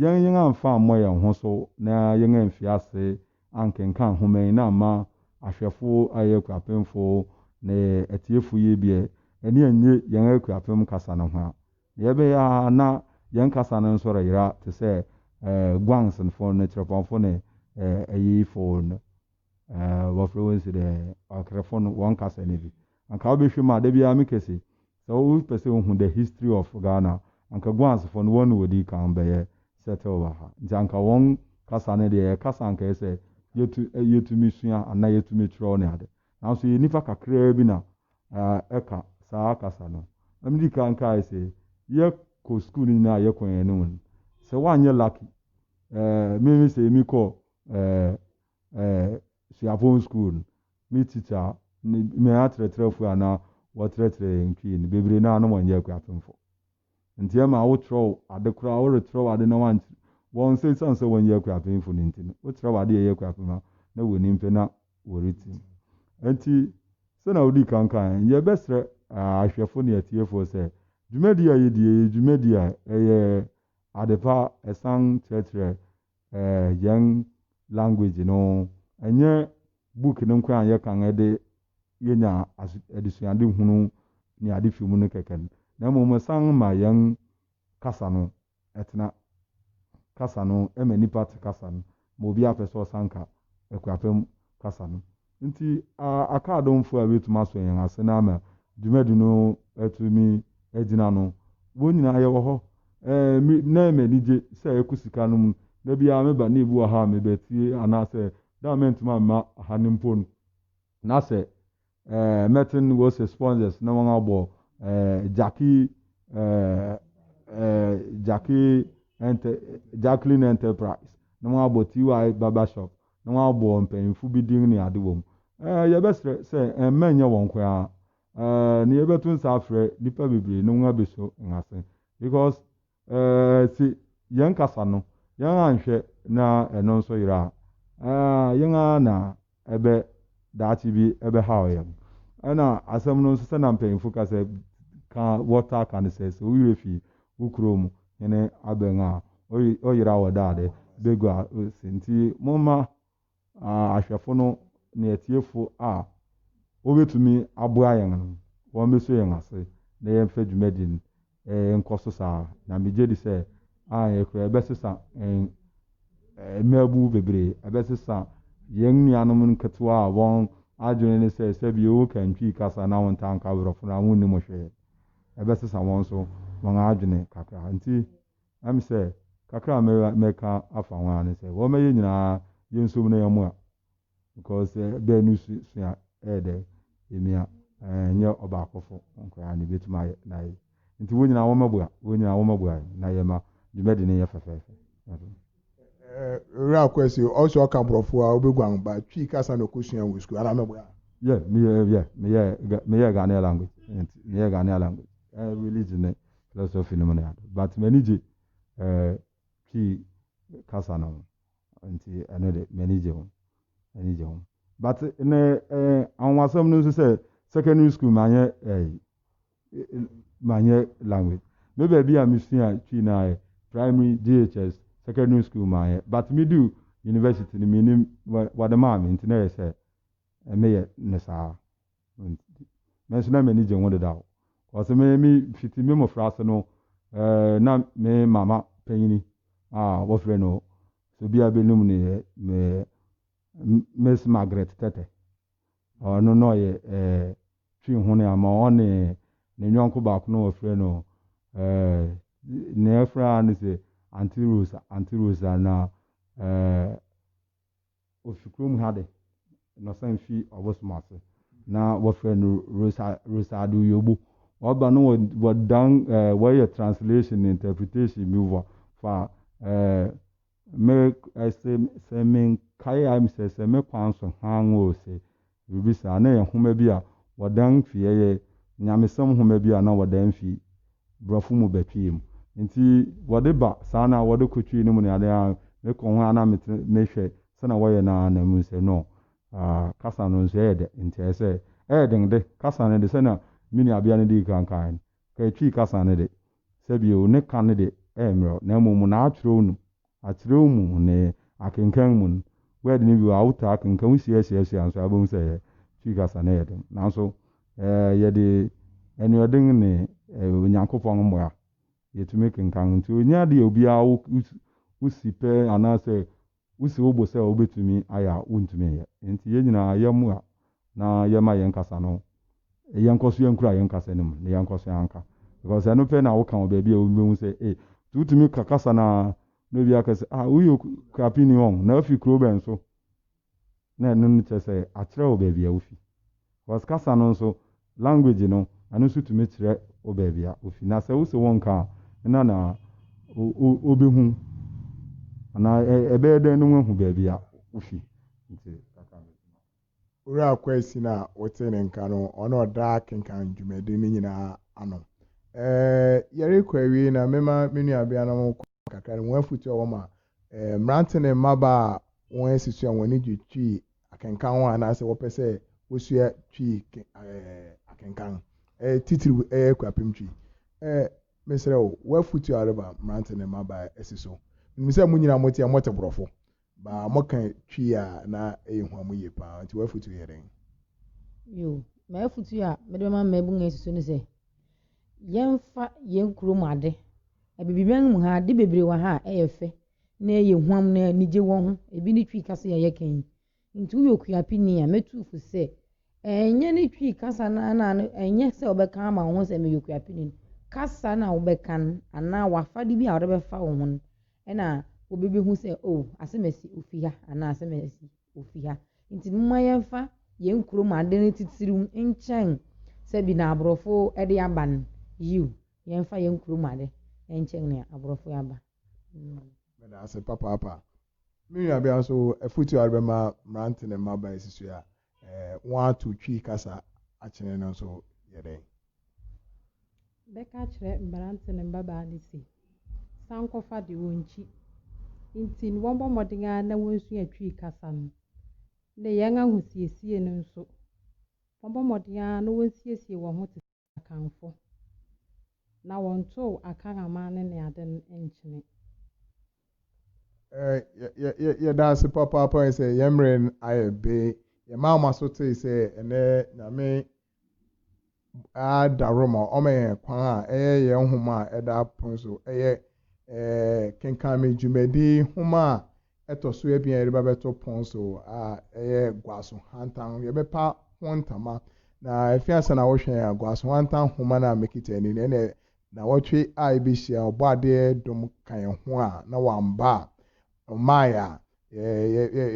Yɛn yɛn amfa ammɔ yɛn ho so na yɛn amfi ase ankenkan nhoma yi na amma ahwɛfo ayɛ akuapemfo ne atiefo yi deɛ, ani annye yɛn akuapem kasa no ho a, nea ɛbɛyɛ ara na yɛn kasa no nso reyera te sɛ Guangsnfo ne Chirepongfo ne Ayiyifo no. eh, wɔfrɛ wɔn si dɛ ɔkrefo no wɔn kasa no bi anka wobɛhwɛ mu a da biara mekɛ se sɛ wopɛ sɛ wohu the history of Ghana anka guansefo no wɔn na wɔdi kan bɛyɛ settle wɔ ha nti anka wɔn kasa no deɛ yɛ kasa anka yɛ sɛ yɛtu, eh, yɛtumi sua anaa yɛtumi kyerɛw ne ade nanso yɛ nifa kakraa bi na eh, ɛka saa kasa no ɛmedi kan kae sɛ yɛkɔ sukuu no nyinaa yɛkɔ yɛn anim no sɛ woanyɛ lucky eh, meme sɛ mekɔ eh, suapɔn skuul no, me titsa nye hɛn akyerɛkyerɛfo a nna wɔkyerɛkyerɛ hɛn Twi no, beberee no a nna wɔnnyɛ ekuapemfo. Ntsi ema awokyerɛw adze koraa, worekyerɛw adze na wɔann wɔn sɛ esian sɛ wɔnnyɛ ekuapemfo no ntsi no, wokyerɛw adze a ɔyɛ ekuapem a, nna wonnyim pɛ na woritsi mu. Ntsi, sɛnea odii kan kãe no, yɛbɛserɛ ahwɛfo nye atsiefo sɛ, dwumadzi a yedzi yi yɛ dwumadzi a ɔyɛ adze pa, san kyerɛkyerɛ eh yɛn language no ɛnyɛ book no nko a yɛ kan ɛde yɛnya adesuade hunu ne ade fi mu no kɛkɛ no na mmom ɛsan ma yɛn kasa no ɛtena kasa no ɛma nipa te kasa no ma obi apɛ sɛ ɔsan ka akuapɛm kasa no Enti, aka adomfo a wobetumi asɔ yɛn ase na ama dwumadi no atumi agyina no, wɔn nyinaa yɛwɔ hɔ. Me, na ɛyɛ me anigye sɛ ɛkɔ sika no mu. Da biara meba na ebi wɔ ha a mebetie, anaasɛ da a merentumi amma ha no mpo no, na sɛ mɛten Wose Sponsors na wɔabɔ Jackie, Jackie, Jacqueline Enterprise, na wɔabɔ TY Barbershop, na wɔabɔ mpanyimfo bi din ne ade wom. Ɛɛ, yɛbɛsrɛ sɛ ɛmma ɛnyɛ wɔn nko ara. Ɛɛ, na yɛbɛto nsa afrɛ nnipa bebree na wɔabeso yɛn ase. Because, ɛɛ, se yɛn kasa no, yɛn anhwɛ na ɛno nso yera a, ɛɛ, yɛn ara na ɛbɛ, daakye bi ɛbɛhaw yɛn. Ɛna asɛm no nso, sɛnea mpanyimfo ka sɛ, ka, wɔtaa ka no sɛ, sɛ wo werɛ fi wo kurom hene abɛn a, ɔyera wɔ da a dɛ bagua si. Nti momma ahwɛfo no ne atiefo a wɔbɛtumi aboa yɛn no, wɔmmɛsɔ yɛn ase na yɛmfa dwumadi no nkɔ so saa. Na megye di sɛ anyɛ koraa ɛbɛsesa mmaabun bebree, ɛbɛsesa yɛn nuanom nketewa a wɔn adwene ne sɛ sɛbi wo ka Ntwi kasa na wontaa nka Borɔfo no a, wonnim hwee. ɛbɛsesa wɔn nso wɔn adwene kakra. Nti ɛm sɛ kakra a mɛra mɛka afa ho ara ne sɛ wɔma yɛn nyinaa yɛnsom na yɛmmoa because bɛɛ no su sua ɛyɛ dɛ ɛmia ɛɛ nyɛ ɔbaakofo nkoraa na ɛbɛtumi ayɛ na yɛ nti wɔn nyinaa wɔmɛboa wɔn nyinaa wɔmɛboa na yɛma dwumadi no yɛ fɛfɛɛfɛ. Owura Kwesi, ɔsɛ ɔka Borɔfo a, wobɛguan ba Twi kasa na ɔkɔsua wɔ sukuu anaa meboa? Yeah, meyɛ, yeah, meyɛ, meyɛ Ghanaian language, meyɛ Ghanaian language, eh, religion ne philosophy no mu ne ade, but m'ani gye eh, Twi kasa no ho, nti ɛno de, m'ani gye ho, m'ani gye ho. But ne eh, anwonwasɛm no nso sɛ, secondary school manyɛ eh, manyɛ language me baabi a mesua twi no ayɛ primary JHS secondary school manyɛ but me du university no menim wɔde maa me nti na ɛyɛ sɛ meyɛ no saa me nso na m'ani gye ho dedaw ɔsɛ me me fiti me mmofra ase no ɛɛ na me mama panyini a wɔfrɛ no so bia bɛnum no yɛ me Miss Margaret Tete Ɔno na ɔyɛ eh, twi hone ama ɔne ne yɔnko baako na wɔfrɛ no eh, nea ɛfrɛ ara ne sɛ Aunty Rosa, Aunty Rosa na eh, ɔfi kurom ha de na ɔsan fi ɔbosom ase na wɔfrɛ no Rosa, Rosa Adeoyogbo. Ɔba no wɔdan eh, wɔyɛ translation ne interpretation bi wɔ fa eh, Me se sɛ me nkae a se sɛ me kwan so hann o se biribi saa. Na ɛyɛ nhoma bi a wɔdan fi, ɛyɛ nyamesɛm nhoma bi a na wɔdan fi brɔfo mu ba twi mu. Nti wɔde ba saa na wɔde kɔ twi no mu ne ade a me kɔ ho a na me me hwɛ sɛnea wɔyɛ no a na me hu sɛ no ah kasa no nso ɛyɛ dɛ nti ɛyɛ sɛ ɛyɛ den de kasa no de sɛnea me nuabea no dii kan kae no Ka Twi kasa no de, sɛbio, ne ka no de ɛyɛ mmerɛw, na mmom na akyerɛw nu, akyerɛw mu, ne akenkan mu no, word no bi wɔ a wotaa kenkan, wohyia suasua nso a wobɛhu sɛ ɛyɛ Twi kasa no yɛ den. Nanso yɛde anuɔden ne Onyankopɔn mmoa, yɛtumi kenkan. Nti, ɛnyɛ ade a obiara wo wo si pɛ anaasɛ Wusi wo bo sɛ wubetumi ayɛ a wuntumi nyɛ. Enti yɛn nyinaa yɛmmoa na yɛmma yɛn kasa no, yɛnkɔ so nkura yɛn kasa no mu na yɛnkɔ so nka. Because ɛno pɛ na woka wɔ baabi a obi behu sɛ, ei, nti wutumi ka kasa no ara na obi aka sɛ, ah, woyɛ okuapeni ɔn, na wufi kurow bɛn so? Na ɛno no kyerɛ sɛ akyerɛ wo baabi a wofi. Cause kasa no nso, language no, ɛno nso tumi kyerɛ wo baabi a wofi. Na sɛ wose wonka a, hena na obehu anaa ɛbɛyɛ dɛn na wahu baabi a wofi? Nti kakra no. Owura Kwaasin a wotee ne nka no, ɔna ɔda akenkan dwumadi no nyinaa ano. Ɛɛ, yɛrekɔ awiei na mema me nuabeanom kɔ kakra no, wɔn afotu a wɔma Mmerante ne mmabaa a wɔasi so a wɔn ani gye Twi akenkan ho anaasɛ wɔpɛ sɛ wosua Twi akenkan, titiriw Akuapem Twi. Mesrɛ wo, w'afotu a woreba mmerante ne mmabaa asi so. Minim sɛ mo nyinaa mote a, mote Borɔfo, baa moka Twi a na ɛyɛ hua mo yie paa. Nti w'afotu yɛ dɛn? Yoo, m'afotu a mede bɛma mmabun a asi so ne sɛ, Yɛmfa yɛn kurom ade. Abibimman mu ha, ade bebree wɔ ha a ɛyɛ fɛ na ɛyɛ huam na anigye wɔ ho. Ebi ne Twi kasa yi a yɛka yi. Nti woyɛ Okuapini a, mɛtu wo fo sɛ, ɛnyɛ ne Twi kasa no ara na ɛnyɛ sɛ wobɛka ama wo ho sɛ meyɛ Okuapini no. Kasa no a wobɛka no anaa w'afade bi a wode bɛfa wo ho no na obi bɛhu sɛ, oh, asɛm asi, ofi ha anaa asɛm asi. ofi ha. Nti momma yɛmfa yɛn kurom ade no titiriw nkyɛn sɛ bi na aborɔfo de aba no. Yiw, yɛmfa yɛn kurom ade nkyɛn nea aborɔfo de aba no. Meda ase papaapa. Me nuabea nso, afotu a ɔrebɛma mmerante ne mmabaa a asisi a wɔato twi kasa akyene no nso yɛ dɛn? Bɛka akyerɛ mmerante ne mmabaa no se, sankɔfa de, wɔnkyi. Nti no wɔmmɔ mmɔden ara na wɔnsua Twi kasa no, ne yɛn ahosiesie no nso. Wɔmmɔ mmɔden ara na wɔnsiesie wɔn ho te sɛ Akanfo, na wɔntow Akan amanne ne ade no nkyene. Yɛ, yɛ, yɛda ase papaapa sɛ yɛn mmerɛ no ayɛ be. Yɛmaa mo aso tee sɛ ɛnnɛ Nyame ara da hɔ ma ɔma yɛn kwan a ɛyɛ yɛn nhoma a ɛda pon so yɛ Kenkan Me dwumadi nhoma a ɛtɔ so abien a yɛde bɛbɛto pon so a ɛyɛ Guaso Hantan. Yɛbɛpa ho ntama, na efi ase na wohwɛ yɛn a, Guaso Hantan nhoma no a mekita ani no, ɛnna nnawɔtwe a ebehyia Ɔbɔadeɛ dom ka yɛn ho a na wamba a, ɔmmae a,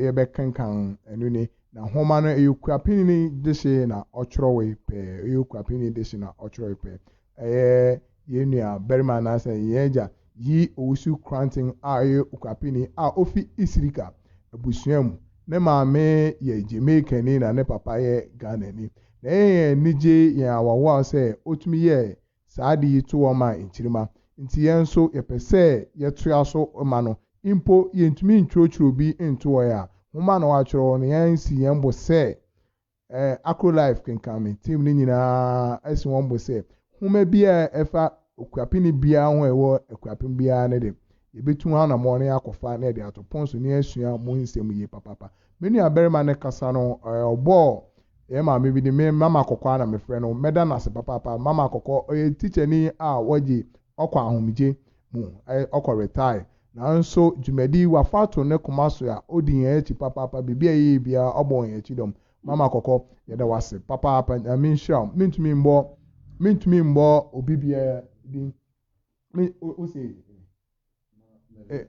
yɛ bɛ kenkan ɛno ni na nhoma no ɛyɛ okura pini ni dehye na ɔtwerɛwe pɛɛ ɛyɛ okura pini ni dehye na ɔtwerɛwe pɛɛ ɛyɛ yɛn nua barima anaasɛ yɛn agya yi owusu kranten a ɛyɛ okura pini a ofi isirika abusua mu ne maame yɛ jamaica ni na ne papa yɛ ghana ni na ɛyɛ yɛn anigye yɛn awawa sɛ otumi yɛ Saa ade yi to wɔn maa nkyirimma. Enti yɛn nso yɛpɛ sɛ yɛtoa so ma no. Mpo yentumi ntwerɛtwerɛ bi nto hɔ a, nwoma a na wɔatwerɛ no, yɛasi yɛn bo sɛ eh, Acrolife kenkan me team no nyinaa asi wɔn bo sɛ, nwoma biara a ɛfa Okuapeni biara ho a ɛwɔ Akuapem biara no de, Yebetu anammɔn no akɔfa na yɛde ato pon so na yɛasua mo nsɛm yie papaapa. Me nuabarima no kasa no, ɛ, ɔbɔɔ yɛn maame bi din, me, Mama Kɔkɔ ara na mefrɛ no. Mɛda no ase papaapa. Mama Kɔkɔ, ɔyɛ tikyani a wagye ɔkɔ ahomegye mu, ɛ, ɔkɔ retire. Nanso dwumadi, wafa ato ne koma so a odi yɛn akyi papaapa. Biribi a yɛyɛ biara, ɔbɔ yɛn akyi dɔm. Mama Kɔkɔ, yɛda wo ase papaapa. Nyame nhyira wo. Mentumi mmɔ, mentumi mmɔ obi biara din. Me o se eh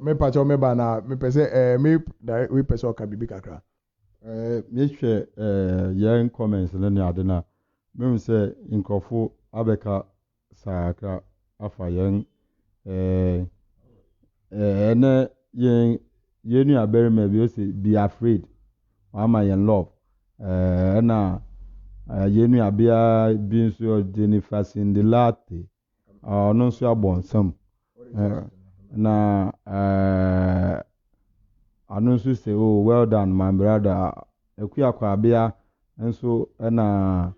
me pacho me ba na me pese eh me direct we pese oka bibi kakra. Eh me hwɛ eh yɛn comments ne ne ade na me hu sɛ nkurɔfo abɛka sakra afa yɛn eh eh ɛnɛ yɛn Yɛn nua barima bi ɔsi be afraid wama yɛn love ɛɛ ɛna yɛn nua bea bi nso Jennifer Cindy Latte ɔno nso abɔ nsam ɛɛ na ɛɛ ano nso sɛ oh well done my brother Akua Kwabea nso ɛna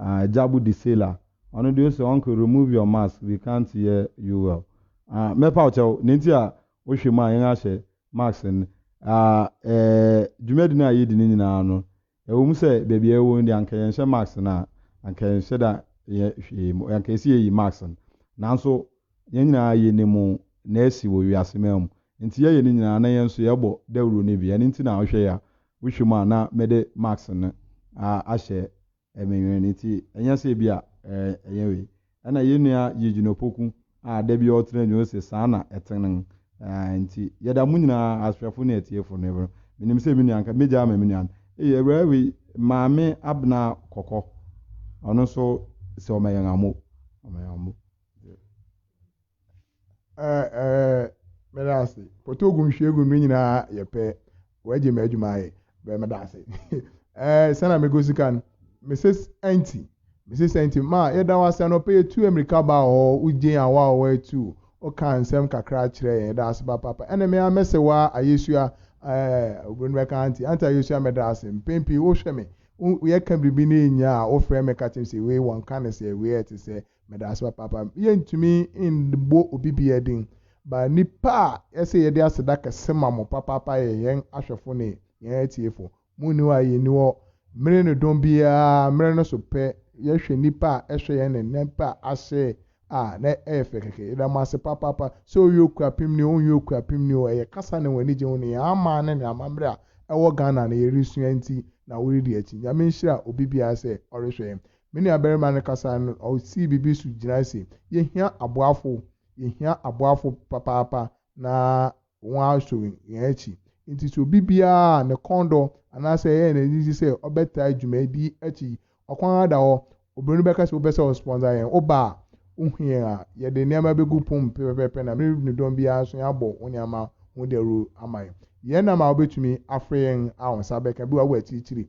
ɛɛ Jabu Disela ɔno deɛ ɔsɛ uncle remove your mask we can't hear you well. Ah, mɛpa wo kyɛw, ne nti a Wohwɛ mu a, yɛn ahyɛ Max a ɛɛ dwumadi no a yɛredi no nyinaa no, ɛwɔ mu sɛ baabi a yɛwɔ no deɛ anka yɛnhyɛ Max no a, anka yɛnhyɛ da yɛ hwee mu, anka ɛsɛ yɛyi Max no. Nanso yɛn nyinaa yɛnim nea asi wɔ wiase man mu, enti yɛyɛ ne nyinaa na yɛn nso yɛbɔ dawuro no bi. Ɛno nti na wohwɛ yi a, wohwɛ mu a na mede Max no ahyɛ Ɛmenwene nti ɛnyɛ sɛ ebia ɛnyɛ wei. Ɛna yɛn nua Eugene Opoku a da bi ɔtena adwuma no se saa na ɛtene. Aah nti yɛda mo nyinaa asoɛfo ne atiefo no ɛbro. Menim sɛ me nua nka mɛgya ama me nua no. Ei awuraa wei Maame Abena Kɔkɔ ɔno nso sɛ ɔma yɛn amo. Ɔma yɛn amo. Ɛɛ ɛɛ meda ase pɔtɔ ogu nhwi egu no nyinaa yɛ pɛ wɔagye mɛ adwuma ayɛ bɛɛ meda ase ɛɛ sɛnɛ mego sika no mrs ɛnti mrs ɛnti ma yɛda wo ase anɔpɛ yɛtu amirika ba hɔ wogye yɛn awa a wɔatu woka nsɛm kakra kyerɛ yɛn yɛda ase ba papa ɛna me ara mɛsɛ wa ayesua ɛɛ obi no bɛka anti anti ayesua mɛda ase mpɛn pii wohwɛ me yɛka biribi na ɛnya a wofrɛ me ka kyerɛ me sɛ wei wɔnka ne sɛ wei ɛte sɛ Meda ase papaapa. Yɛntumi mmɔ obi biara din, but nnipa a yɛse yɛde aseda kɛse ma mo papaapa yɛ yɛn ahwɛfo ne yɛn atiefo. Munni hɔ a yenni hɔ. Mmere ne dɔn biara, mmere no so pɛ, yɛhwɛ nnipa a ɛhwɛ yɛn ne nnipa a ahyɛ a, na ɛyɛ fɛ kɛkɛ. Yɛda mo ase papaapa. Sɛ woyɛ okuapemni o, wonyɛ okuapemni o, ɛyɛ kasa ne wɔn ani gye ho ne yɛn aman ne ne amammerɛ a ɛwɔ Ghana no yɛresua nti na woredi akyi. Nyame nhyira obi biara sɛ ɔrehwɛ yɛn. Me nuabarima no kasae no, osii biribi so gyinae se, Yehia aboafo. Yehia aboafo papaapa na wɔaso yɛn akyi. Enti sɛ obi biara a ne kɔn dɔ anaasɛ ɛyɛ no anigye sɛ ɔbɛtaa dwumadi yi akyi yi, ɔkwan ara da hɔ. Obroni no bɛka sɛ, Wopɛ sɛ wosponsor yɛn? Woba a, wuhu yɛn a, yɛde nneɛma begu pon pɛpɛpɛpɛ na me ne dɔm biara nso yɛabɔ wo nneɛma ho dawuru ama yɛn. Yɛn nam a wubetumi afrɛ yɛn a wo nsa bɛka bi wɔ w'akyirikyiri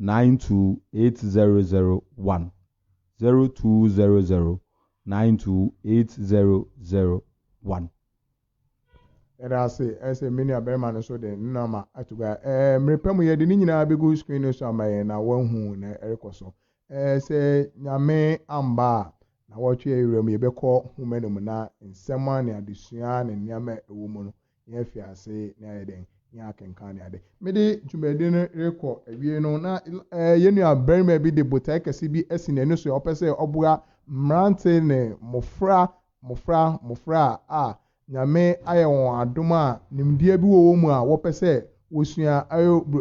028001, 0200 92801. Yɛda ase ɛsɛ me nua barima no so de ne nɔma ato gua. Ɛɛ mmere pa mu yɛde ne nyinaa bɛgu screen no so ama yɛn na wɔahu na ɛrekɔ so. Ɛɛ sɛ nyame amba a na wɔtwe awura mu yɛbɛkɔ home no mu na nsɛm a ne adesua ne nneɛma a ɛwɔ mu no na yɛafi ase na yɛayɛ dɛn? Na yɛakenkan ne ade. Mede dwumadi no rekɔ awiei no, na yɛn nuabarima bi de botae kɛse bi asi n'ani so a ɔpɛ sɛ ɔboa mmerante ne mmofra, mmofra, mmofra a Nyame ayɛ wɔn adom a nimdeɛ bi wɔ wɔn mu a wɔpɛ sɛ wosua.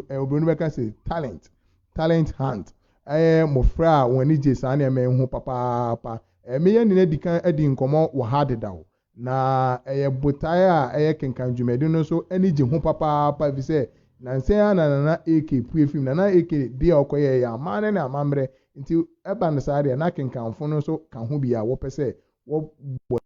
Oburoni bɛka se, Talent, talent hunt. Ɛyɛ mmofra a wɔn ani gye saa nneɛma yi ho papaapa. Meyɛ ne no adi kan adi nkɔmmɔ wɔ ha dedaw, Na ɛyɛ botae a ɛyɛ kenkan dwumadi no nso ani gye ho papaapa efisɛ nnansa yi ara na Nana AK pue fii mu. Nana AK de a ɔkɔyɛe yɛ amanne ne amammerɛ, enti ɛba no saa deɛ, na akenkanfo no nso ka ho bi a wɔpɛ sɛ wɔbɔ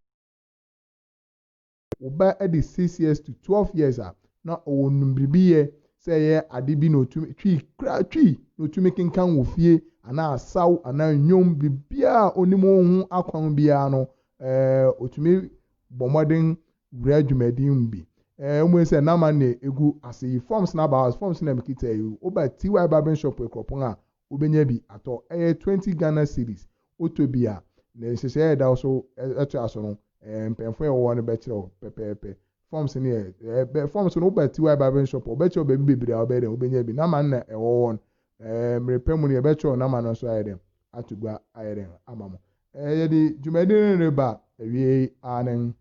wo ba adi six years to twelve years a, na ɔwɔ nimdebiyɛ sɛ ɛyɛ ade bi na otumi, twi koraa twi, na otumi kenkan wɔ fie anaa asaw anaa nnwom, biribiara a onim ho akwan biara no, Ɛɛ, otumi bɔ mmɔden wura dwumadi mu bi. Ɛɛ, mmom sɛ n'amanne a egu ase yi, forms na aba, forms na mekita yi, woba TY Barbering Shop Akuropong a, wobenya bi atɔ. Ɛyɛ twenty Ghana cedis. Wotɔ bi a, ne nhyehyɛe a ɛda so toa so no, ɛɛ, mpanyimfo a wɔwɔ hɔ no bɛkyerɛ wo pɛpɛɛpɛ. Forms no yɛ, ɛɛ, forms no, woba TY Barbering Shop a, wɔbɛkyerɛ wo baabi bebree a wobɛyɛ dɛn, wobenya bi. N'amanne a ɛwɔ hɔ no, Ɛɛ, mmere pa mu no, yɛbɛkyerɛw n'ama no nso ayɛ dɛn? Ato gua ayɛ dɛn? Ama mo. Ɛɛ, yɛde dwumadi no reba awiei, aanen.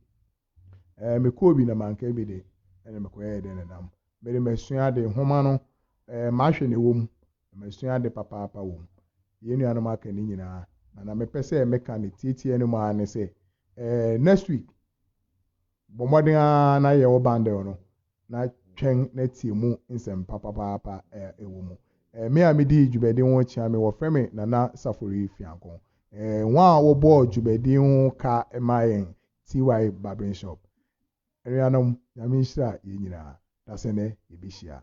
Ɛɛ, mekɔɔ bi na manka bi de, ɛnna mekɔyɛɛ dɛn denam? Mede masua ade, nhoma no, ɛɛ, mahwɛ nea ɛwɔ mu, na masua ade papaapa wɔ mu. Yɛn nuanom aka ne nyinaa, na nea mepɛ sɛ meka no tiatia no mu ara ne sɛ, ɛɛ, next week, bɔ mmɔden ara na yɛ wo bundle no, na twɛn na tie mu nsɛm pa papaapa a ɛwɔ mu. Me a midi dwumadi ho kyea me, wɔfrɛ me Nana Safori Fianko. Wɔn a wɔbɔɔ dwumadi ho ka maa yɛn, TY Barbering Shop. Anuanom, Nyame nhyira yɛn nyinaa. Dasɛnnɛ yɛbɛhyia.